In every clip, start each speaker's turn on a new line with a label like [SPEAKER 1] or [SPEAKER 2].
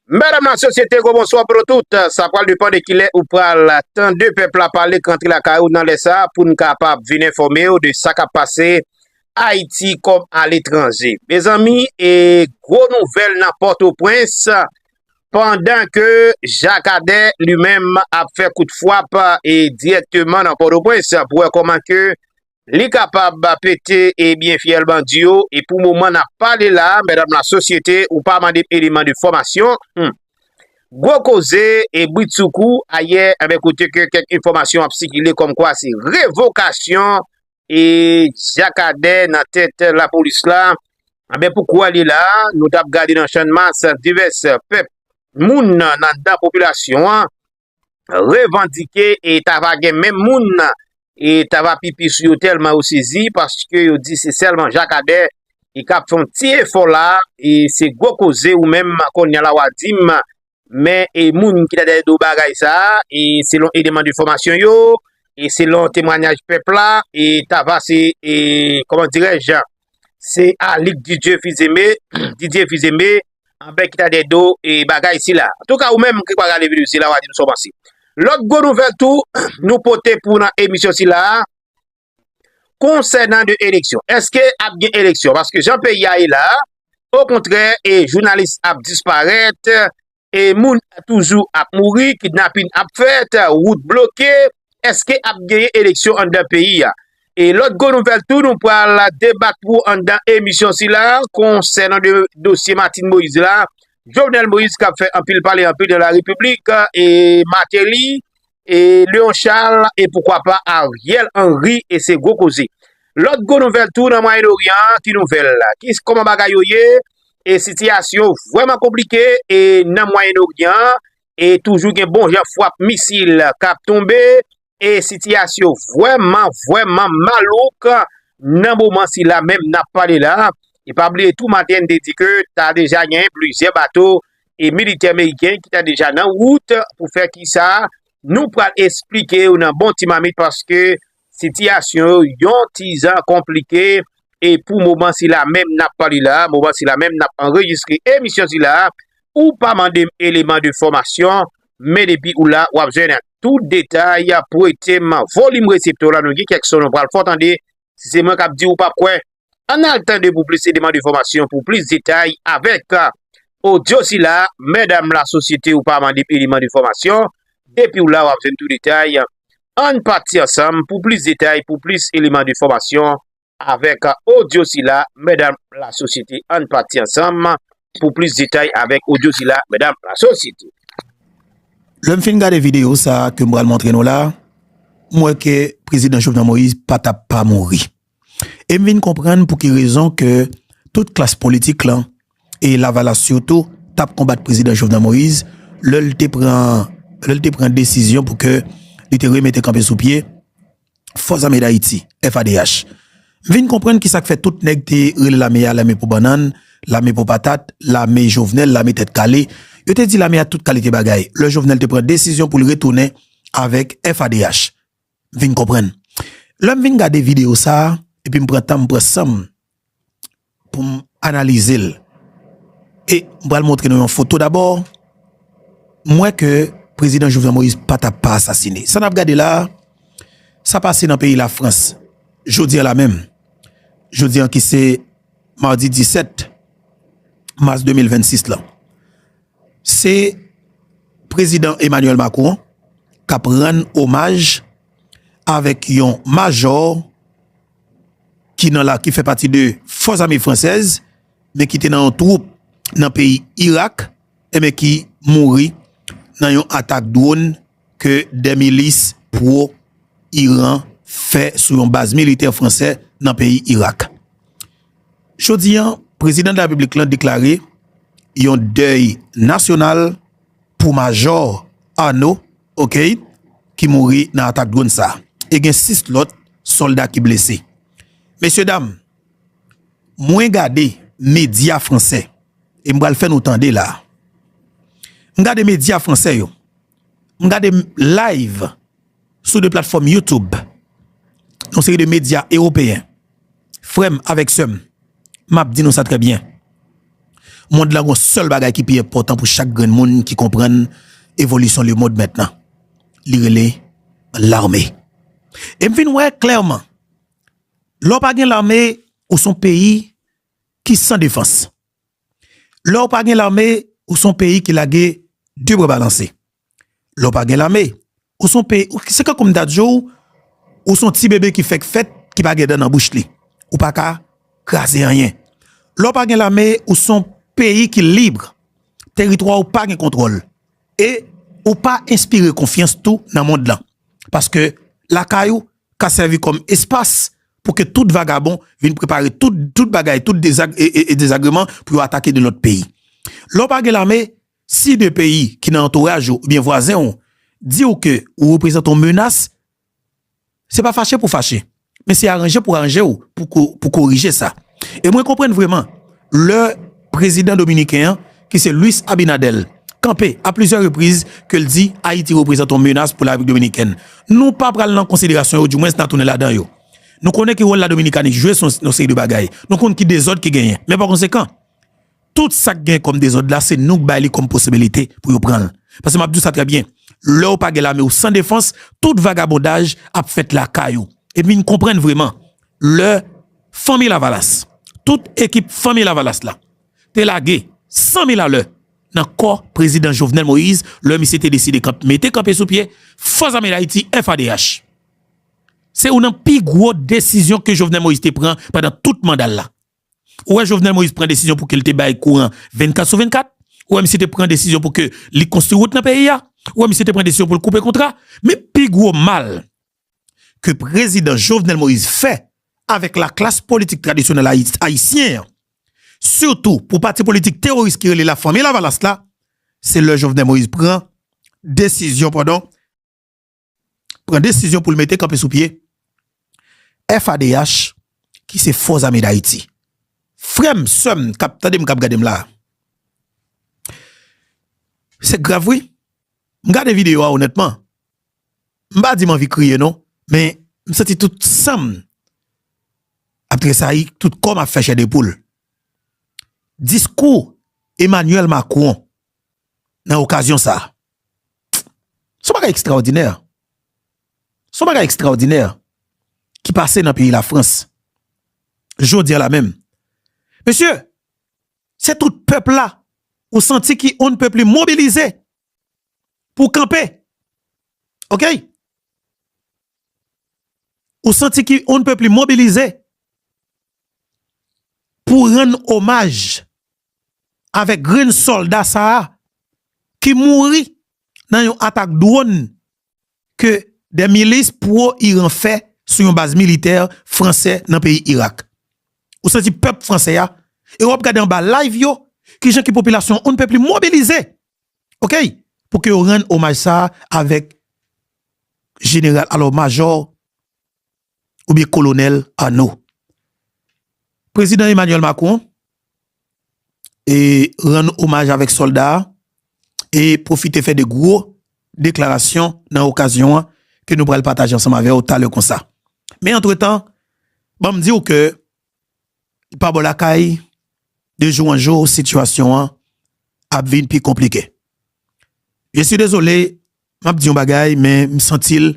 [SPEAKER 1] Madame la société gwo bonswa pou nou tout, sa pral depan de kilè ou pral tande pèp la pale k rantre lakay ou nan lè sa pou n kapab vin enfòme w de sa k ap pase Ayiti kòm a letranje. Mezanmi e gwo nouvèl nan Pòtoprens pandan ke Jakadè li menm ap fè kout fwap e dirèkteman nan Pòtoprens pou wè kòman ke Li kapab pete e byen fyèl bandi yo e pou moman nap pale la mèdam la sosyete ou pa mandem eleman de fòmasyon humm gwo koze e britsoukou ayè enben kote ke kèk enfòmasyon ap sikile kòm kwa se revokasyon e jakadè nan tèt lapolis la enben pou kwa li la nou tap gade nan chan mas divès pèp moun nan nan popilasyon an. revandike e ta va gen menm moun nan e ta va pipi sou yo tèlman yo sezi paske yo di se sèlman Jakadè ki ka ap fè yon ti efò la e se gwo koze ou menm kounye la w a di m men e moun ki ta dèyè do bagay sa a e selon eleman de fòmasyon yo e selon temwanyaj pèp la e ta va se e kòman dirèj Se Alick Didier Fils-Aimé, Didier Fils-Aimé, anbè ki ta dèyè do e bagay sila. An tou ka ou menm ki pa gade video sila wa di m sa w panse. Lòt gwo nouvèl tou nou pote pou nan emisyon sila a konsènan de eleksyon. Eske ap gen eleksyon? Paske jan peyi a ye la, o kontrè e jounalis ap disparèt, E moun toujou ap mouri, kidnapin ap fèt, wout bloke, eske ap genyen eleksyon anndan peyi a? E lòt gwo nouvèl tou nou pral debat pou ou anndan emisyon sila konsènan dosye Martine Moïse la, Jovenel Moïse kap fè anpil pale anpil nan la repiblik e Martelly E Leon Charles e poukwa pa Ariel Henry e se gwo koze. Lòt gwo nouvèl tou nan Mwayen Oryan an, ki nouvèl? Ki kòman bagay yo ye? E sitiyasyon vrèman konplike e nan Mwayen Oryan an e toujou gen bon jan fwap misil k ap tonbe e sitiyasyon vrèman vrèman malouk nan moman sila menm n ap pale la. E pa bliye tou maten n te di ke ta deja gen plizyè bato e militè meriken ki ta deja nan wout pou fè ki sa a, nou pral esplike ou nan bon ti mamit paske sitiyasyon yo yon ti zan konplike e pou moman sila menm n ap pale la, moman sila menm n ap anrejistre emisyon sila a, ou pa mande m eleman de fòmasyon, men depi ou la w ap jwenn tout detay prete m volim reseptè w la nou gen kèk son nou pral fè w tande, si se mwen k ap di w ou p ap kwè. Ann al tande pou plis e demann enfòmasyon pou plis detay avèk. Odyo sila, mèdam la sosyete ou pa mande p eleman de fòmasyon, depiw la wap jwenn tou detay, ann pati ansanm pou plis detay pou plis eleman de fòmasyon avèk odyo sila, mèdam la sosyete ann pati ansanm pou plis detay avèk odyo sila, mèdam la sosyete.
[SPEAKER 2] Lèm fin gade video sa kem pral montre nou la, m wè ke prezidan Jovenel Moïse pa tap pa mouri. E m vin konprann pou ki rezon ke tout klas politik lan, e lavalas sitou, t ap konbat Prezidan Jovenel Moïse lè l te pran desizyon pou ke li te remete kanpe sou pye Fòs Ame Dayiti, FADH. M vin konprann ki sa k fè tout nèg te rele lame a lame pou bannann, lame pou patat, lame Jovenel, lame tèt kale. Yo te di lame a tout kalite bagay lè Jovenel te pran desizyon pou l retounen avèk FADH. vin konprann. Lè m vin gade videyo sa a epi m pran tan m pran san m pou m analize l e m pral montre nou yon foto. Dabò, m wè ke Prezidan Jovenel Moïse pa ta pa asasine. Sa n ap gade la a, sa pase nan peyi Lafrans jodi a la menm. Jodi a ki se madi 17 mas 2026 lan. Se Prezidan Emmanuel Macron k ap rann omaj avèk yon majò ki fè pati de fòs ame fransèz men ki te nan yon twoup nan peyi Irak enben ki mouri nan yon atak dwòn ke de milis pwo Iran fè sou yon baz militè fransè nan peyi Irak. Jodi an, prezidan de la Repiblik lan deklare yon dèy nasyonal pou majò Arnaud Oqueil ki mouri nan atak dronn sa. E gen 6 lòt sòlda ki blese. Mesye dam, Mwen gade medya franse e m pral fè nou tande la a. M gade medya franse yo, m gade live sou de platfòm YouTube yon seri de medya ewopeyen. Frè m avèk sè m, m ap di nou sa trè byen, mond lan gen yon sèl bagay ki pi enpòtan pou chak grenn moun ki konprann evolisyon lemond mètnan, li rele lame. E m vin wè klèman. Lè w pa gen lame, ou son peyi ki san defans. Lè w pa gen lame, ou son peyi ki lage de bra balanse. Lè w pa gen lame, ou son peyi, se tankou m ta di w, ou son ti bebe ki fèk fèt, ki pa gen dan nan bouch li. Ou pa ka kraze anyen. Lè w pa gen lame, ou son peyi ki lib, teritwa w pa gen kontwòl. E ou pa enspire konfyans tou nan mond lan. Paske lakay ou, ka sèvi kòm espas pou ke tout vagabon vin prepare tout bagay, tout dezag e dezagreman pou yo atake de lòt peyi. Lè w pa gen lame, si de peyi ki nan antouraj ou oubyen vwazen w di w ke ou reprezante yon menas, se pa fache pou fache, men se aranje pou aranje w pou korije sa. E mwen konprann vreman lè prezidan dominiken an ki se Luis Abinadel kanpe a plizyè repriz ke l di Ayiti reprezante yon menas pou la Repiblik Dominikèn. Nou pa pral nan konsiderasyon yo, diwens nan tounen ladan yo. Nou konnen ki wòl la Dominikani jwe sou yon seri de bagay. Nou konn ki dezòd ki genyen. Men pa konsekan. Tout sa k gen kòm dezòd la se nou k bay li kòm posibilite pou yo pran l. Pase m ap di w sa trè byen, lè w pa gen lame w san defans, tout vagabondaj ap fèt lakay ou. Epi n konprann vreman lè Fanmi Lavalas, tout ekip Fanmi Lavalas la te lage san mil alè nan kò Prezidan Jovenel Moïse lè misye te deside kanpe mete kanpe sou pye Fòs Zame Dayiti, FADH. Se youn nan pi gwo desizyon ke Jovenel Moïse te pran pandan tout manda l la. Ou wè Jovenel Moïse pran desizyon pou ke li te bay kouran 24 sou 24? Ou wè misye te pran desizyon pou ke li konstwi wout nan peyi a? Ou wè misye te pran desizyon pou l koupe kontra? Men pi gwo mal ke prezidan Jovenel Moïse fè avèk la klas politik tradisyonèl ayisyen an, sitou pou pati politik teworis ki rele la Fanmi Lavalas la, se lè Jovenel Moïse pran desizyon, padon, pran desizyon pou l mete kanpe sou pye FADH ki se Fò Zame Dayiti. Frè m, sè m, kap tande m, kap gade m la, se grav wi. M gade videyo a onètman, m pa di m anvi kriye non, men m santi tout san m ap tresayi, tout kò m ap fè chè de poul. Diskou Emmanuel Macron. nan okazyon sa. Son bagay ekstraòdinè. Son bagay ekstraòdinè ki pase nan peyi la Frans. Jodi a la menm. Mesye, se tout pèp la ou santi ki on pèp li mobilize pou kanpe. Ok? Ou santi ki on pèp li mobilize pou rann omaj avèk grenn sòlda sa a ki mouri nan yon atak dronn ke de milis pwo Iran fè sou yon baz militè fransè nan peyi Irak. Ou santi pèp fransè a e wap gade anba live yo kijan ki popilasyon on ne peut plus mobilize ok pou ke yo rann omaj sa a avèk jeneral alò majò oubyen kolonèl Arnaud. Prezidan Emmanuel Macron e rann omaj avèk sòlda a e pwofite fè 2 gwo deklarasyon nan okazyon an ke nou pral pataje ansanm avè w talè konsa. Men antretan, ban m di w ke pa bò lakay, de jou an jou sitiyasyon an ap vin pi konplike. Je si dezole Map di yon bagay men m santi l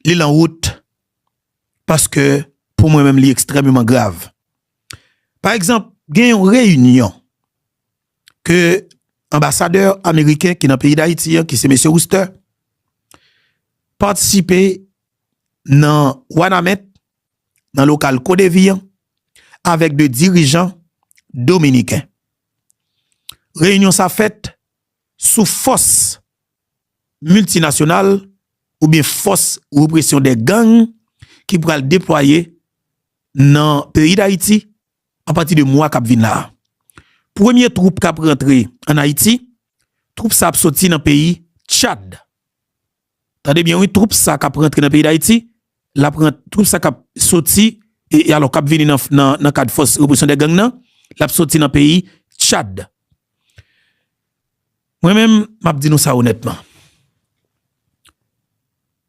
[SPEAKER 2] li lan wout paske pou mwen menm li ekstrememan grav. Pa egzanp gen yon reyinyon ke anbasadè ameriken ki nan peyi Dayiti an ki se mesye Wouster patisipe nan Wanament nan lokal Kodevi an avèk 2 dirijan dominiken. Reyinyon sa fèt sou fòs miltinasyonal oubyen fòs represyon de gang ki pral deplwaye nan peyi Dayiti apati de mwa kap vin la. Premye twoup kap rantre an Ayiti, twoup sa ap soti nan peyi Tchad. Tande byen wi twoup sa kap rantre nan peyi dayiti lap rant twoup sa kap soti e alò kap vini nan nan kad fòs represyon dè gang nan lap soti nan peyi tchad mwen menm map di nou sa onètman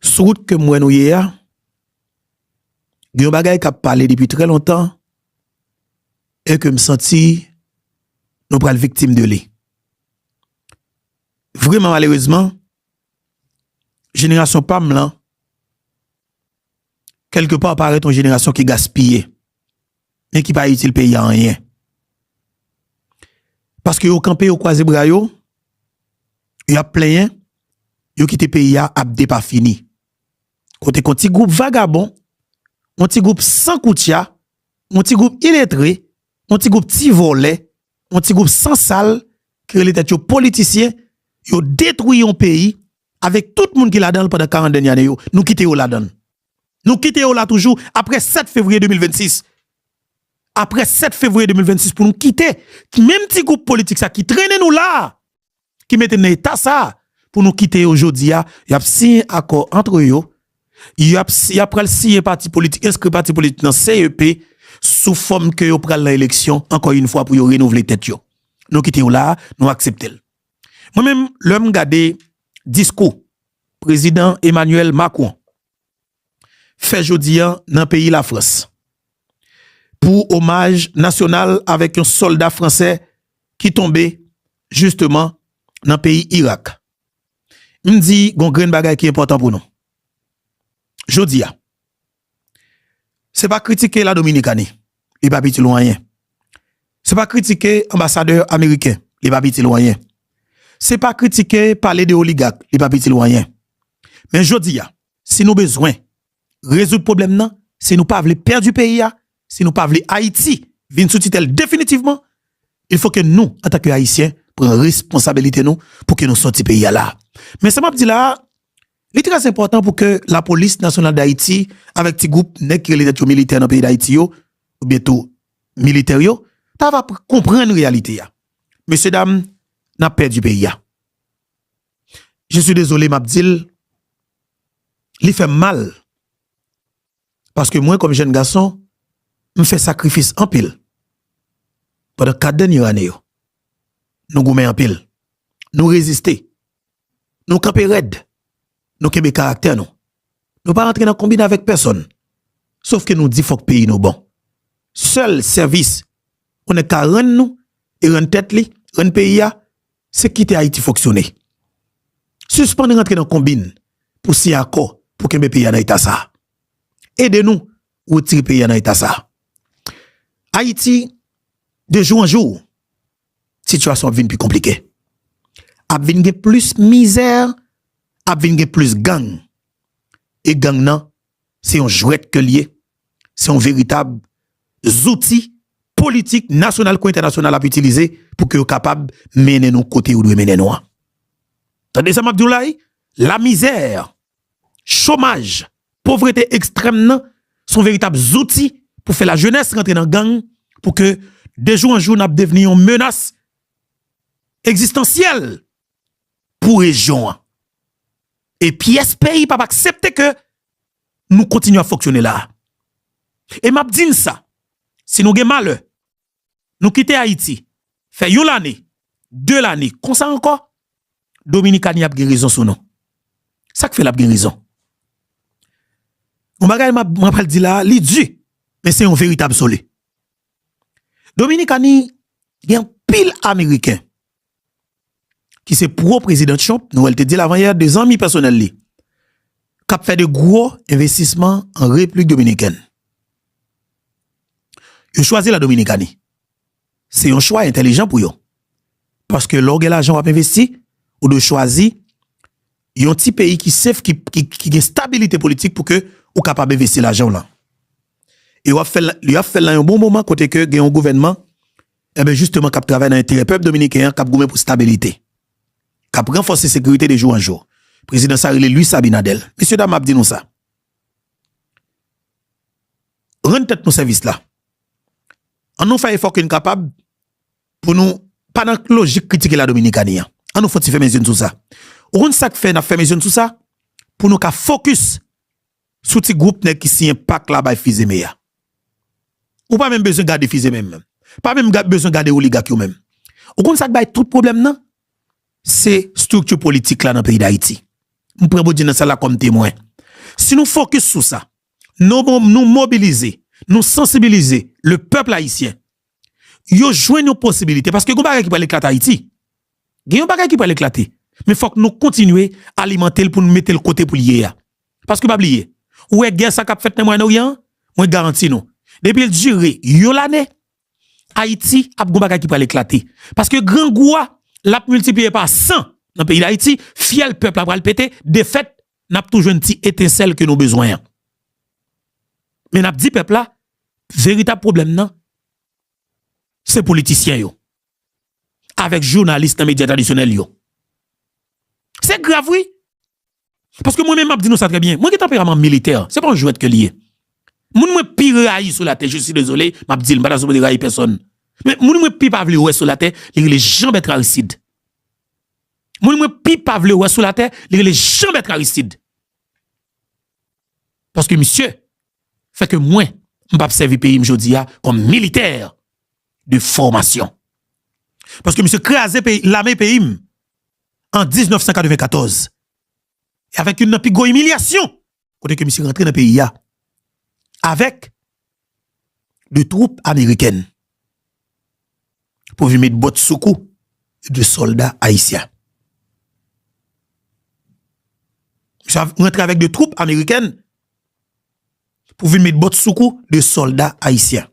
[SPEAKER 2] sou wout kem wè nou ye a gen yon bagay kap pale depi trè lontan e kem santi nou pral viktim de li vreman malerezman Jenerasyon pa m lan, kèlke pa parèt yon jenerasyon ki gaspiye, men ki pa itil peyi a anyen. Paske yo kanpe, yo kwaze bra yo, y ap plenyen, yo kite peyi a ap depafini. Kote kon ti gwoup vagabon, yon ti gwoup san koutya, yon ti gwoup iletre, yon ti gwoup ti vòlè yon ti group san sal ki rele tèt yo politisyen yo detwi yon peyi avèk tout moun ki ladanl pandan 40 dènye ane yo nou kite yo ladann nou kite yo la toujou aprè 7 fevriye 2026 aprè 7 fevriye 2026 pou nou kite menm ti group politik sa ki trennen nou la. ki mete n nan eta sa a pou nou kite yo jodi a, y ap siyen akò antre yo, y ap y ap pral siyen pati politik, enskri pati politik nan CEP sou fòm ke yo pral nan eleksyon ankò yon fwa pou yo renouvle tèt yo. Nou kite yo la a, nou aksepte l. Mwen menm lè m gade diskou Prezidan Emmanuel Macron. fè jodi an nan peyi Lafrans pou omaj nasyonal avèk yon sòlda fransè ki tonbe jisteman nan peyi Irak. M di gon grenn bagay ki enpòtan pou nou jodi a, se pa kritike La Dominikani, li pa pi ti lwen anyen, se pa kritike anbasadè ameriken, li pa pi ti lwen anyen, se pa kritike pale de oligak, li pa pi ti lwen anyen men jodi a, si nou bezwen rezoud pwoblèm nan, si nou pa vle pèdi peyi a, si nou pa vle Ayiti vin sou titèl definitivman, il fo ke nou antan ke Ayisyen pran responsabilite nou pou ke nou sòti peyi a la a. Men sa map di la a, li trè enpòtan pou ke lapolis nasyonal dAyiti avèk ti gwoup nèg ki rele tèt yo militè nan peyi dAyiti yo, ou byen tou militè yo, ta va konprann reyalite a. Mesye dam, nap pèdi peyi a. je suis désolé map dil li fèm mal paske mwen kòm jèn gason m fè sakrifis anpil pandan 4 dènye ane yo nou goumen anpil nou reziste nou kanpe rèd nou kenbe karaktè nou nou pa rantre nan konbine avèk pèsòn sof ke nou di fòk peyi nou bon sèl sèvis yon nèg ka rann nou e rann tèt li rann peyi a Se kite Ayiti fonksyone. Sispann rantre nan konbinn pou siyen akò pou kenbe peyi a nan eta sa a. Ede nou retire peyi a nan eta sa a. Ayiti, de jou an jou, sitiyasyon ap vinn pi konplike. Ap vinn gen plis mizè, ap vinn gen plis gang. E gang nan Se yon jwèt ke l ye, se yon veritab zouti politik nasyonal kou entènasyonal ap itilize pou ke yo kapab mennen nou kote yo dwe mennen nou an. Tande sa m ap di w la wi, lamizè, chomaj, povrete ekstrèm nan se yon veritab zouti pou fè lajenès rantre nan gang pou ke dejou an jou n ap devni yon menas ekzistansyèl pou rejyon an. E pyès peyi pap aksepte ke nou kontinye ap fonksyone la. E map di n sa, si nou gen malè, nou kite Ayiti, fè yon lane, de lane, konsa ankò, Dominikani ap gen rezon sou nou. Sak fè lap gen rezon? Yon bagay map mwen pral di la, li di, men se yon verite absoli. Dominikani gen anpil Ameriken ki se pro prezidan Trump, Noel te di l avan yè, de zanmi pèsonèl li k ap fè de gwo envestisman an Repiblik Dominikèn. Yo chwazi la Dominikani. Se yon chwa entèlijan pou yo. Paske lè w gen lajan w ap envesti, ou dwe chwazi yon ti peyi ki sef, ki gen stabilite politik pou ke ou kapab envesti lajan w lan. E yo ap fè l nan yon bon moman kote ke gen yon gouvènman Enben jisteman k ap travay nan enterè pèp dominiken an k ap goumen pou stabilite, k ap ranfòse sekirite de jou an jou. Prezidan sa rele Luis Abinader. Mesye dam m ap di nou sa, rann tèt nou sèvis la, an nou fè efò ke n kapab pou nou pa nan lojik kritike la Dominikani an, an nou fon ti fèmen zye n sou sa. Ou konn sa k fè n ap fèmen zye n sou sa? Pou nou ka fokis Sou ti group nèg ki siyen pak la bay fizeme ya. Ou pa menm bezwen gade fizeme menm. Pa menm bezwen gade oligak yo menm. Ou konn sak bay tout pwoblèm nan? Se structure politik la nan peyi dayiti. M pran Bondye nan syèl la kòm temwen. Si nou fokis sou sa, nou mobilize, nou sansibilize le pèpl ayisyen, yo jwenn yon posibilite paske gon bagay ki pral eklate ayiti. Gen yon bagay ki pral eklate men fòk nou kontinye alimante l pou nou mete l kote pou l ye ya. Paske pa bliye, ou wè gè sa k ap fèt nan Mwayen Oryan an, mwen garanti nou, depi l dire yon lane, Ayiti ap gon bagay ki pral eklate. Paske grangou a, l ap miltipliye pa san nan peyi Dayiti, fyèl pèp la pral pete, defèt, n ap tou jwenn ti etensèl ke nou bezwen an. Men n ap di pèp la, veritab pwoblèm nan, se politisyen yo, avèk jounalis nan medya tradisyonèl yo. Se grav wi! Paske mwen menm map di nou sa trè byen, mwen gen tanperaman militè, se pa yon jwèt ke li ye. Moun mwen pi rayi sou latè, je suis désolé, map di l, m pa ta sipoze rayi pèsòn. Men moun mwen pi pa vle wè sou latè, li rele Jean Bertrand Aristide. Moun mwen pi pa vle wè sou latè, li rele Jean Bertrand Aristide. Paske misye, fè ke mwen, m pap sèvi peyi m jodi a, kòm militè de fòmasyon. Paske misye kraze peyi, lame peyi m, an 1994 e avèk youn nan pi gwo imilyasyon kote ke misye rantre nan peyi a avèk de twoup amerikèn pou vin met bòt sou kou de sòlda ayisyen. Misye rantre avèk de twoup amerikèn. pou vin met bòt sou kou 2 sòlda ayisyen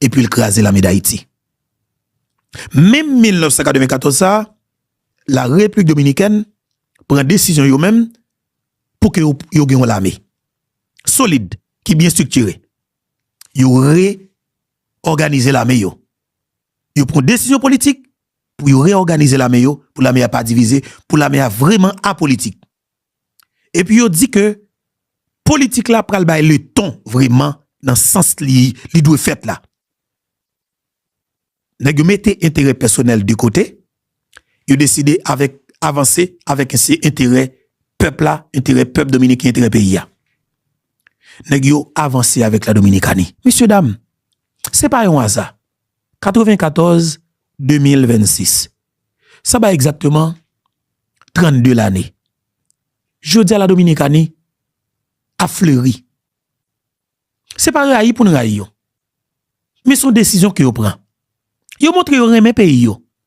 [SPEAKER 2] epi l kraze lame dayiti. Menm 1994 sa a, la Repiblik Dominikèn pran desizyon yo menm pou ke yo gen yon lame solid ki byen striktire. Yo reòganize lame yo. Yo pran desizyon politik pou yo reòganize lame yo, pou lame a pa divize, pou lame a vreman apolitik. Epi yo di ke politik la pral bay le ton vreman nan sans li dwe fèt la. Nèg yo mete enterè pèsonèl de kote, yo deside avèk avanse avèk se enterè pèp la, enterè pèp dominiken, enterè peyi a. Nèg yo avanse avèk la dominikani. Mesye dam, se pa yon aza. 94 2026 sa bay egzakteman 32 lane jodi a la dominikani ap fleri se pa rayi poun rayi yo men son desizyon ke yo pran yo montre yo renmen peyi yo